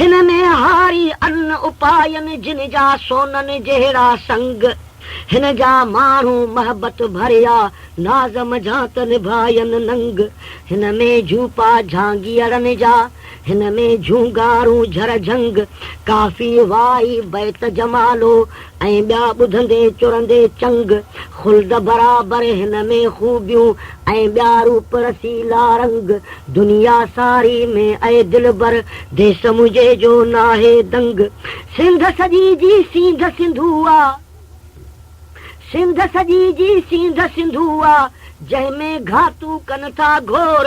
هن ۾ هاري ان اپائين جن جا سونن جهڙا سنگ هن جا ماڻهو محبت ڀريا ناز منجهان ته نڀاين ننگ هن ۾ جهوپا جهانگيئڙن جا هن ۾ جهونگارون جهرجهنگ ڪافي وائي بيت جمالو ۽ ٻيا ٻڌندي چرندي چنگ، خلد برابر هن ۾ خوبيون ۽ ٻيا روپ رسيلا رنگ، دنيا ساري ۾ اي دلبر، ديس منهنجي جو ناهي دنگ، سنڌ سڄي جي سينڌ سنڌو آ، سنڌ سڄي جي سينڌ سنڌو آ، جنهن ۾ گهاتو ڪن ٿا گهور،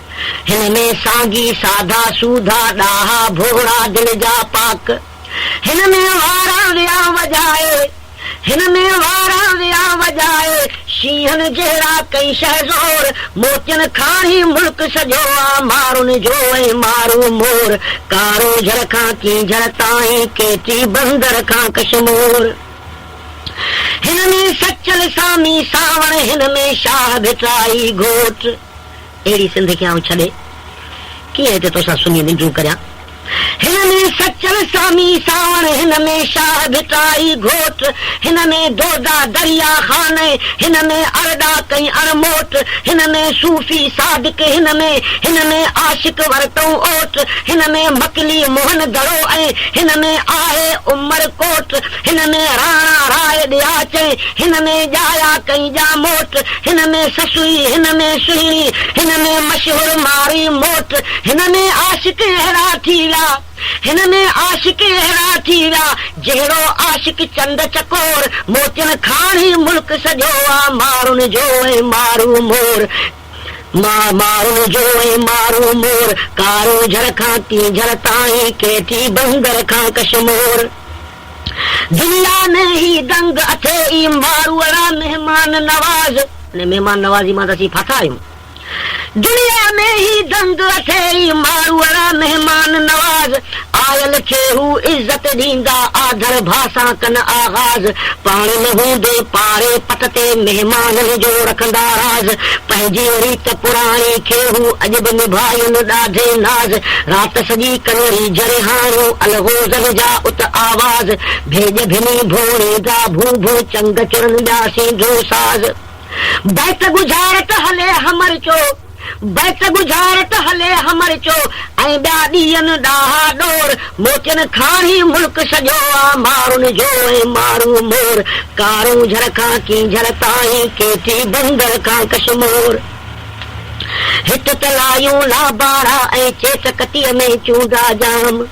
هن ۾ سانگي، ساڌا، سوڌا، ڏاها، ڀوڙا، دل جا پاڪ. هن ۾ وارا ويان وڄائي، هن ۾ وارا ويان وڄائي، شينهن جهڙا ڪئين شهه زور، موتين کاڻي ملڪ سڄو آ، مارن جو ۽ مارو مور، ڪارو جھڙ کان ڪينجھر تائين، ڪيٽي بندر کان ڪشمور. هن ۾ سچل سامي سانوڻ، هن ۾ شاهه ڀٽائي گهوٽ. اهڙي سنڌ کي آئون ڇڏي، ڪيئن هتي توسان سنهي ننڊون ڪريان. هن ۾ سچل سامي سانوڻ، هن ۾ شاهه ڀٽائي گهوٽ، هن ۾ دودا دريا خان، هن ۾ ارڏاڪ ۽ اڙموٽ، هن ۾ صوفي صادق، هن ۾، هن ۾، عاشق ورتئون اوٽ، هن ۾، مڪلي موهن دڙو ۽ هن ۾ آهي عمر ڪوٽ. هن ۾ راڻا راء ڏيا چئي، هن ۾ ڄايا ڪئي ڄا موٽ، هن ۾ سسئي، هن ۾ سهڻي، هن ۾ مشهور ماري موٽ، هن ۾ عاشق اهڙا ٿي ويا، هن ۾ عاشق اهڙا ٿي ويا، جهڙو عاشق چند چڪور، موتين کاڻ هي ملڪ سڄو آ، مارن جو ۽ مارو مور. ماهه ماهو جوڻي مارو مور، ڪارو جھر کان ڪينجھر تائين، ڪيٽي بندر کان ڪشمور. دنيا ۾ هي دنگ اٿي ئي، ماروئڙا مهمان نواز. ان مهمان نوازي مان ته اسين ڦاٿا آهيون. دنيا ۾ هي دنگ اٿي ئي، ماروئڙا مهمان نواز. آيل کي هو عزت ڏيندا، آڌر ڀاء سان ڪن آغاز، پاڻ نه هوندي پاڙي پٽ تي مهمانن جو رکندا راز، پنهنجي ريت پراڻي کي هو اڄ به نڀائين ڏاڍي ناز، رات سڄي ڪن ريجهرهاڻيون الغوزن جا ات آواز، ڀيڄ ڀني ڀوڻي جا ڀو ڀو چنگ چڙن ٻيا سينڌو ساز. بيت ڳجهارت هلي همر چو. بيت ڳجهار ته هلي همر چو ۽ ٻيا ڏيئن ڏاها ڏور موتين کاڻي ملڪ سڄو آ مارن جو ۽ مارو مور ڪارون جھر کان ڪينجھر تائين ڪيٽي بندر کان ڪشمور هت ته لايون لابارا ۽ چيٽ ڪتيء ۾ چونڊا ڄام.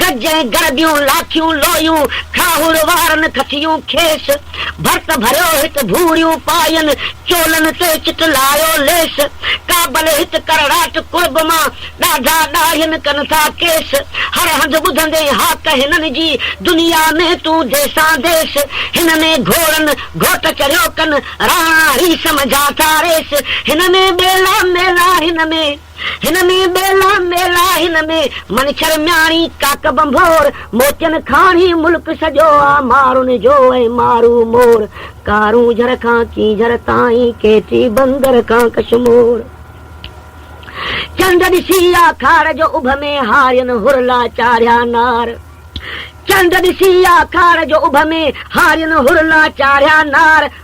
گج ۽ گربيون لاکيون لويون کاهوڙ وارن کٿيون کيس ڀرت ڀريو هت ڀوڙيون پاين چولن تي چٽ لايو ليس ڪابل هت ڪرڙاٽ ڪڙڀ مان ڏاڍا ڏاڙهين ڪن ٿا ڪيس هر هنڌ ٻڌندين هاڪ هنن جي دنيا ۾ تون ديسان ديس هن ۾ گهوڙن گهوٽ چريو ڪن راڻا هي سمجها ٿا ريس هن ۾ ٻيلا ميلا هن ۾ هن ۾ ٻيلا ميلا، هن ۾ منڇر مياڻي، ڪاڪ ڀنڀور، موتين کاڻي، ملڪ سڄو آ مارن جو ۽ مارو مور، ڪارونجهر کان ڪينجهر تائين، ڪيٽي بندر کان ڪشمور. چنڊ ڏسي آ کاڙ جو اڀ ۾ هارين هر لا چاڙهيا نار، چنڊ ڏسي آ کاڙ جو اڀ ۾ هارين هر لا چاڙهيا نار،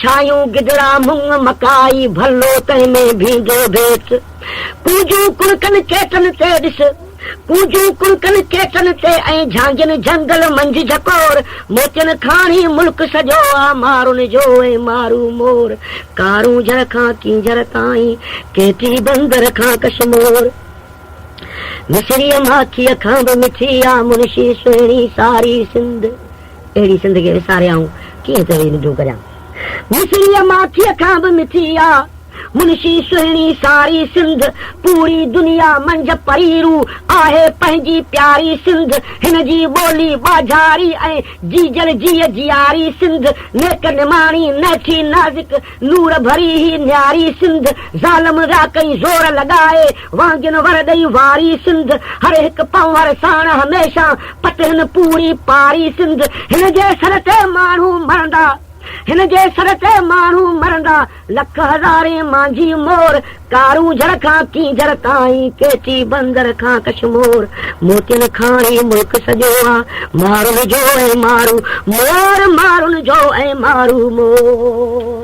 ڇايون گدڙا مڱ مڪائي، ڀلو تنهن ۾ ڀينگو ڀيٽ. ڪونجون ڪڻڪن چيٽن تي ڏس، ڪونجون ڪڻڪن چيٽن تي ۽ جهانگين جهنگل منجهه جهڪور، موتين کاڻي ملڪ سڄو آ مارن جو ۽ مارو مور، ڪارون جهر کان ڪينجهر تائين، ڪيٽي بندر کان ڪشمور. مصريء ماکيء کان به مٺي آ منشي سهڻي ساري سنڌ. اهڙي سنڌ کي وساري آئون ڪيئن چوي ننڊون ڪريان. مصريء ماکيء کان به مٺي آ منشي سهڻي ساري سنڌ پوري دنيا منجهه پريرو آهي پنهنجي پياري سنڌ هن جي ٻولي ٻاجهاري ۽ جيجل جيء جياري سنڌ نيڪ نماڻي نهٺي نازڪ لوڙ ڀري هي نياري سنڌ، ظالم ريا ڪئين زور لڳائي، وانگين ور ڏئي واري سنڌ، هر هڪ پنهور ساڻ هميشه، پتهن پوري پاري سنڌ، هن جي سر تي ماڻهو مرندا، هن جي سر تي ماڻهو مرندا، لک هزارين مانجهي مور، ڪارونجهر کان ڪينجهر تائين، ڪيٽي بندر کان ڪشمور، موتين کان هي ملڪ سڄو آ، مارن جو ۽ مارو مور، مارن جو ۽ مارو مور.